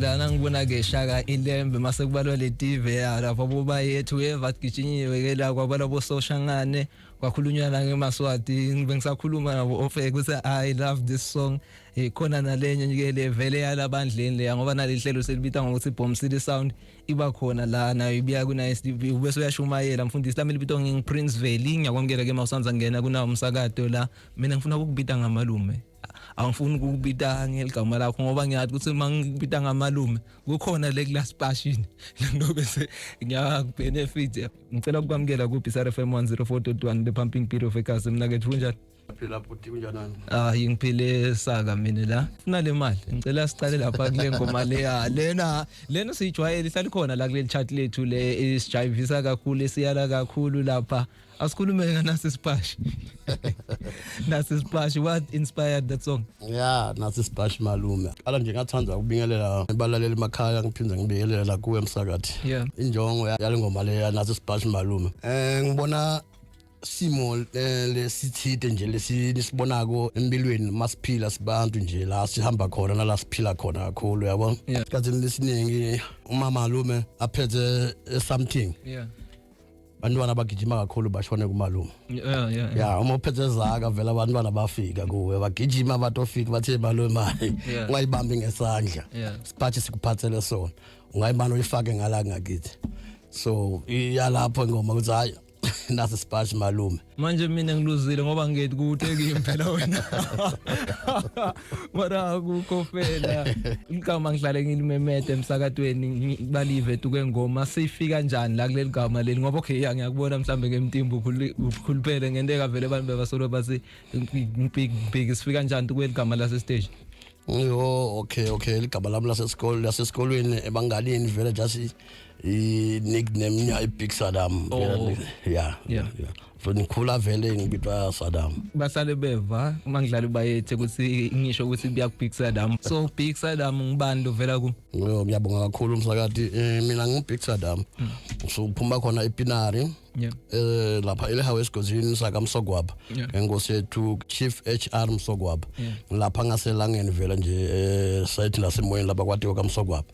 lana ngibona ke shaka ilembe mase kubalwa letive ya lapho boba yethu weva gijinyiwe ke la kwabala bososhangane kwakhulunywa la ngemaswati ngibe ngisakhuluma nabo ofe kuthi i love this song ikhona nalenye ke le vele yalabandleni le ngoba nalihlelo selibita ngokuthi bomb city sound iba khona la nayo ibiya ku nice tv ubese uyashumayela mfundisi lami libito nging prince veli ngiyakwamukela ke mawusanza ngena kunawo umsakato la mina ngifuna ukubita ngamalume angifuni ukubita ngeligama lakho ngoba ngiyazi ukuthi uma ngikubita ngamalume kukhona le class passion ngilobe se ngiyakubenefit ngicela ukwamukela ku Bizarre FM 104.1 the pumping beat of ekhasi mina ke kunjani phila bhuti kunjanani ah ngiphile saka mina la funa le mali ngicela siqale lapha kule ngoma leya lena lena siyijwayele ihlalikhona la kuleli chat lethu le isijayivisa kakhulu esiyala kakhulu lapha asikhulume nganasi splash nasi splash what inspired that song yeah nasi splash malume ala nje ngathanda ukubingelela balaleli emakhaya ngiphinde ngibingelela kuwe msakathi yeah injongo yalengoma leya nasi splash malume eh ngibona simo eh, lesithide nje lesinibonako empilweni masiphila sibantu nje la sihamba khona nala siphila khona kakhulu yabo isikhathi lesiningi umama lume aphethe something yeah bantwana bagijima kakhulu bashone kumalume yeah yeah ya uma uphethe zaka vela abantwana bafika kuwe bagijima batofika bathe malume mayi Yeah. ungayibambi ngesandla Yeah. siphathe sikuphathele sona ungayimana uyifake ngala ngakithi so iyalapho ingoma ukuthi hayi nasi sipatshi malume manje mina ngiluzile ngoba ngithi kude kimi phela wena mara akukho fela igama ngihlale ngilimemede emsakatweni balive tuke ngoma sifika njani la kuleli gama leli ngoba okay ya ngiyakubona mhlambe ngemtimba ukhulupele ngento ekavele abantu bebasolo bathi big big sifika njani tukweli gama lase stage yo okay okay ligama lami lasesikolweni lasesikolweni ebanganini vele just i-nickname nya i-big sadam Oh. Vele- ya Yeah. ya. so ngikhula vele ngibitwa sadam basale beva uma ngidlala ibayethe ukuthi ngisho ukuthi kuya kubig sadam so big sadam ngubani lovela ku Yo, ngiyabonga kakhulu msakati Eh, mina ngu-big sadam suphuma khona epinari yeah eh lapha elehawu esigodini sakamsogwaba Yeah. ngenkosi yethu chief hr msogwaba Yeah. ngilapha ngaselangeni vele nje eh site lasemoyeni lapha kwatiwa kamsogwaba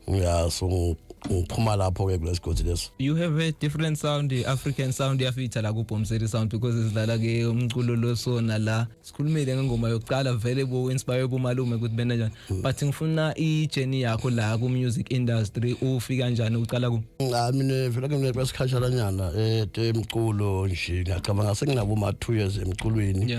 ya so ngiphuma lapho ke kulesigodi leso you have a different sound african sound yafitha la kubhomseri sound because sidlala ke umculo losona la sikhulumile ngengoma yokuqala vele bo inspire bomalume ukuthi bena njani hmm. but ngifuna i journey yakho la ku music industry ufika kanjani uqala ku cha mina vele mina kwasikhatshana nyana eh emculo nje ngiyacabanga senginabo ma 2 years emculweni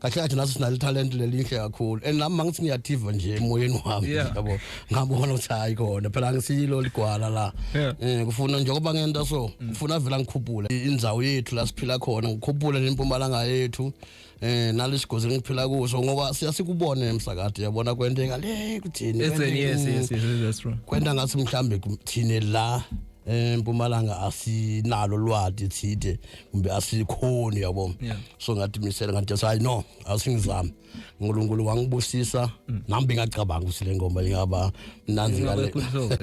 kahle kahle naso sinalo talent lelinhle kakhulu and nami mangithi ngiyathiva nje emoyeni wami yabo ngabona ukuthi hayi kona phela angisilo ligwala la eh kufuna nje ngoba ngenta so mm. kufuna vela ngikhuphule indzawo yethu la siphila khona ngikhuphule nempumalanga yethu eh nalesigozi ngiphila kuso ngoba siyasikubona emsakade yabona kwenteka le kuthini yes yes yes that's true kwenta ngathi mhlambe kuthini la empumalanga asinalo lwadi thide kumbe asikhoni yabo yeah. so ngathi misele ngathi hayi no asingizami uNkulunkulu wangibusisa mm. nami bengacabanga ukuthi le ngoma ingaba mnandi ngale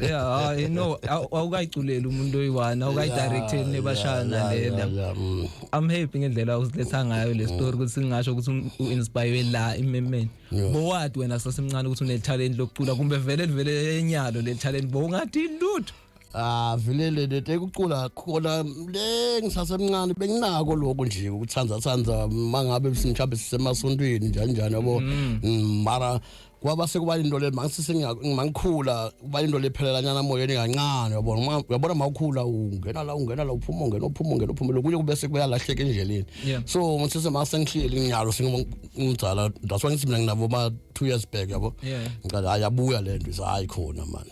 yeah you know awukayiculela umuntu oyiwana awukayidirecteni nebashana lena mm. i'm happy ngendlela usiletha ngayo le story ukuthi singasho ukuthi um, uinspire la imemeni bowadi wena sasemncane ukuthi unetalent lokucula kumbe vele livele enyalo le talent bowungathi lutho Ah vele le le tekucula khona le ngisasemncane benginako lokho nje ukuthanda thanda mangabe simchabe sisemasontweni njani njani yabo Mm. Mm, mara kwaba sekuba into le mangisise ngimangikhula kuba into le phelela nyana moyeni kancane yabona Uma- uyabona mawukhula ungena la ungena la uphuma ungena uphuma ungena uphuma lokunye kube sekuyalahleka endleleni Yeah. so ngisise masengihleli nginyalo sengimdala that's why ngithi mina nginabo ma 2 years back yabo Yeah. ngicela hayi abuya le nto hayi khona manje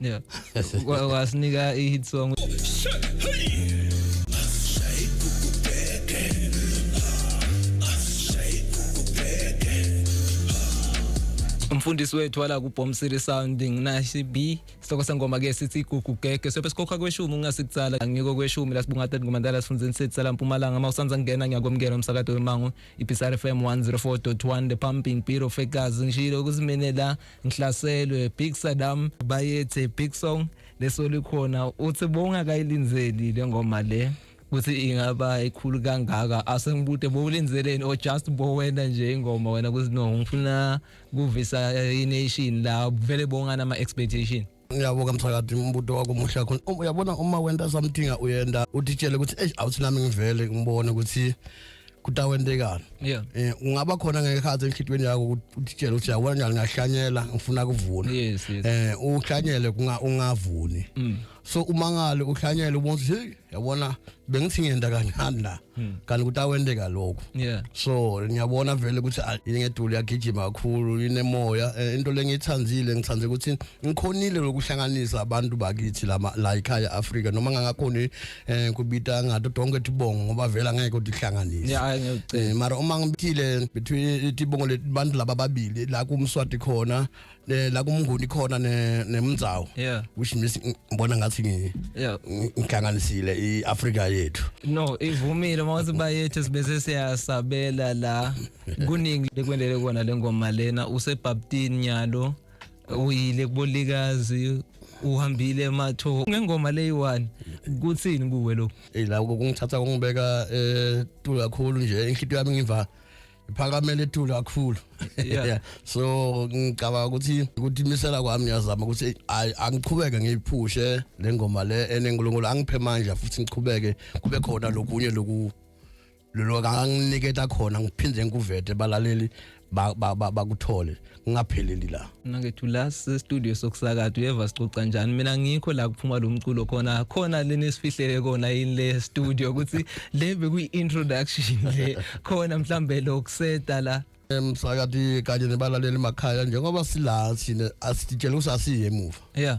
Yeah. Wa- Wasinika i-hit song. umfundisi wethu wala kubhom city sound nginashi b sihloko sengoma ke sithi igugu gege sobe sikhokha kweshumi ungasikutsala ngiko kweshumi lasibunga tati ngomandala sifundzeni sethi sala mpumalanga uma usanza kungena ngiyakwamukela umsakato wemango ibisar fm 104.1 the pumping bureau fekazi ngishilo ukuthi mina la ngihlaselwe big sadam bayethe big song leso likhona uthi bongakayilinzeli le ngoma le ukuthi ingaba ikhulu kangaka asengibude bowulinzeleni or just bowena nje ingoma wena kuzinongo ngifuna kuvisa ination la vele bongana ama expectation uyabo kamthakathi umbuto wakho muhle kakhulu um, uyabona uma wenta something uyenda utitshele ukuthi eish awuthi nami ngivele ngibone ukuthi kutawentekana yeah eh ungaba khona ngekhathi enhlitweni yakho utitshele ukuthi yabona njani ngahlanyela ngifuna kuvuna yes yes eh uhlanyele ungavuni mm. so umangale uhlanyele ubona ukuthi yabona bengithi ngiyenda kancane la Hmm. kanti ukuthi awenteka lokhu yeah so ngiyabona vele ukuthi ah, ingeduli yagijima kakhulu inemoya eh, into lengithandile ngithande ukuthi ngikhonile lokuhlanganisa abantu bakithi lama la ikhaya Africa noma ngangakhoni eh, kubita ngathi donke tibongo ngoba vela ngeke utihlanganise yeah ngiyocela eh, mara uma ngibithile between tibongo lebantu laba babili la kumswati khona ne la kumnguni khona ne nemnzawo yeah which means ngibona ngathi ngi yeah ngihlanganisile iAfrika yethu no ivumile mawuthi bayethu sibese siyasabela la kuningi lekwendele kona lengoma lena usebaptini nyalo uyile kubolikazi uhambile ematho ngengoma leyi-one kuthini kuwe lokhu eyi la kungithatha kungibeka um eh, tulu kakhulu nje inhlito yami ngiva iphakamele ithule kakhulu yeah. so ngicabanga ukuthi ukuthi imisela kwami ngiyazama ukuthi angiqhubeke ngiyiphushe le ngoma le enenkulunkulu angiphe manje futhi ngiqhubeke kube khona lokunye loku lolo kanginiketa khona ngiphinde ngikuvete balaleli bakuthole ngingapheleli la mina ngethu la studio sokusakada uyeva sicoca njani mina ngikho la kuphuma lo mculo khona khona leni sifihlele kona yini le studio ukuthi le bekuyi introduction le khona mhlambe lo kuseta la emsakati kanye nebalaleli emakhaya njengoba sila sine asitshela usasiye emuva yeah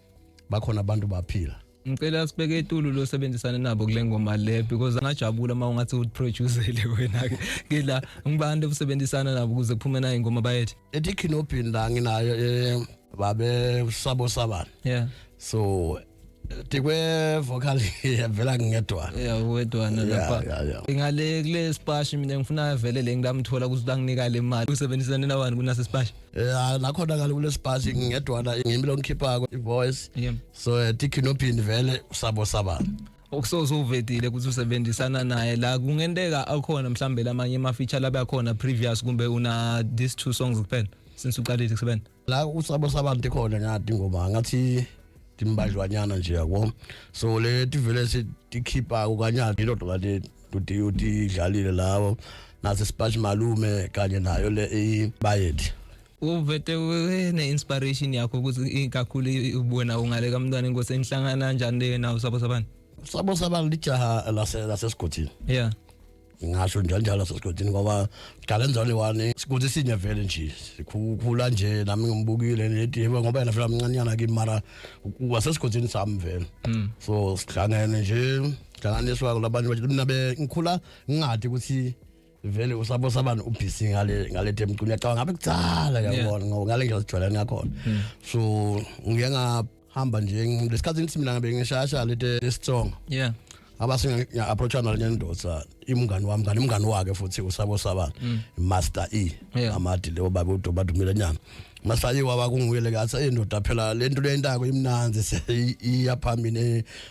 bakhona abantu baphila ngicela sibeke etulu losebenzisana nabo kule ngoma le because angajabula uma ungathi uproducele wena ke ngila ngibantu obusebenzisana nabo ukuze kuphume nayo ingoma bayethe ethi kinopin la nginayo eh, babe sabo sabana yeah so tikwe vocal yavela ngedwana ya wedwana lapha ngale kule spashi mina ngifuna avele le ngilamthola ukuthi banginika le mali usebenzisana nabani kunase spashi Eh nakhona kale kulesibhathi ngingedwana ngimi lo ngikhiphako ivoice. Yeah. So eh, tikhinopini vele usabo sabana. okusoze uvedile ukuthi usebenzisana naye la kungenteka akhona mhlambe lamanye ama feature labe akhona previous kumbe una these two songs kuphela since uqalile kusebenza la usabo sabantu khona ngathi ngoma ngathi timbajwanyana nje yabo so le tivele sikhipha ukanyana into kanti uthi uthi idlalile lawo nase spash malume kanye nayo le ibayethe uvete ne inspiration yakho ukuthi kakhulu ubona ungale kamntwana inkosi enihlangana kanjani nawo sabo sabani sabo sabani lijaha lase lase sigodini yeah ngasho njalo njalo lasesigodini ngoba siqale njalo wani sikuthi sinye vele nje sikhula nje nami ngimbukile nedi ngoba yena vele amncanyana kimi mara wasesigodini sami vele hmm. so sihlangene nje hlanganiswa kulabanye bathi mina bengikhula ngingathi ukuthi vele usabo sabani ubhizi ngale ngale demcu ngiyacabanga ngabe kudzala yabona ngoba ngale ndlela sijwayelene ngakhona hmm. so ngiye ngahamba nje ngesikhathi ngithi mina ngabe ngishasha lete lesitsonga yeah abase ngiya approacha nale ndoda imngani wami kanti imngani wake futhi usabo sabani hmm. master e amadi lewo baba udoba dumile nyama masaye waba kunguyele kathi indoda phela lento lentako imnanzi iyaphambili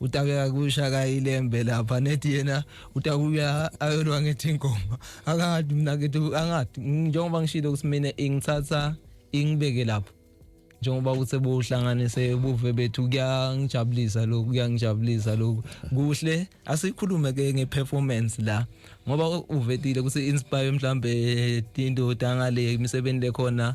utake akusha kayilembe lapha nethi yena utakuya ayolwa ngethi ingoma akade mina ngithi angathi njengoba ngishilo ukuthi mina ingithatha ingibeke lapho njengoba ukuthi buhlanganise ubuve bethu kuyangijabulisa lokhu kuyangijabulisa lokhu kuhle asikhulume ke ngeperformance la ngoba uvetile ukuthi inspire mhlambe into dangale imisebenzi lekhona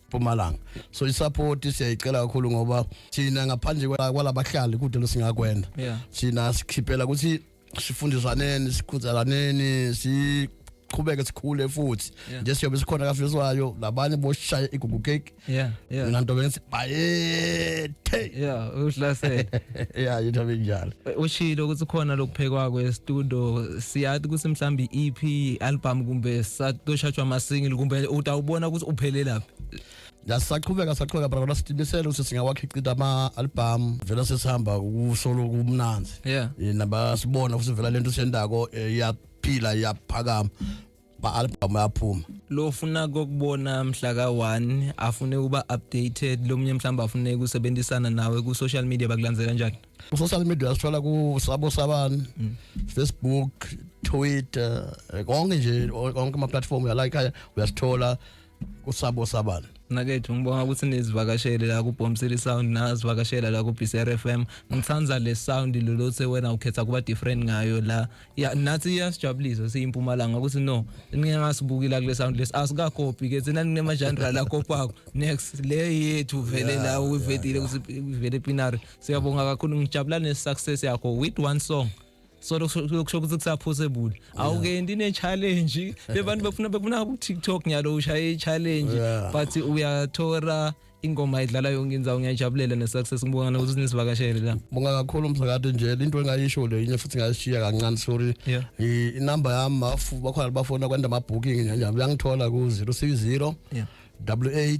Mpumalanga so isupport siyayicela kakhulu ngoba thina ngaphandle kwalabahlali kude losingakwenda yeah. thina sikhiphela ukuthi sifundiswaneni sikhuzelaneni si siqhubeke sikhule futhi nje siyobe sikhona kafiswayo labanye boshaya igugu cake yeah yeah mina nto bengithi bayethu Hey. Yeah, uhlasele. yeah, yitho benjalo. Ushilo ukuthi khona lokuphekwa kwe studio siyathi ukuthi mhlambi EP album kumbe satoshatshwa ama single kumbe utawubona ukuthi uphelelaphi. Yasaqhubeka saqhubeka brother sidimisele ukuthi singawakhiqita ama album vela sesihamba kusolo kumnanzi. Yeah. Nabasibona ukuthi vela lento sendako eh, iyaphila iyaphakama. ma-albhamu aphuma lo funa kokubona mhla ka-one afune ukuba updated lo munye mhlawumbe afune ukusebenzisana nawe ku-social media bakulandzela njani ku-social media sithola kusabo sabani mm. facebook twitter eh, konke nje konke ama-platform uyalayikhaya uyasithola kusabo sabani nakethu ngibonga ukuthi nizivakashele la kubhomsile sound nazivakashela la ku BCR FM ngithanda le sound lolothe wena ukhetha kuba different ngayo la ya nathi iyasijabulisa siyimpumalanga ukuthi no ningasibukila kule sound lesi asika copy ke thina ninema genre la kopako next le yethu vele la uyivedile ukuthi ivele pinari siyabonga kakhulu ngijabula ne success yakho with one song so lokusho ukuthi kusaphose buni awukendi ne challenge bebantu befuna befuna ku TikTok nyalo ushaye i challenge but uyathora ingoma idlala yonke inzawo ngiyajabulela ne success ngibonga nokuthi sinisivakashele la bonga kakhulu msakade nje into engayisho le yini futhi ngayishiya kancane sorry i number yami bafu bakhona bafona kwanda ama booking nje uyangithola ku 060 88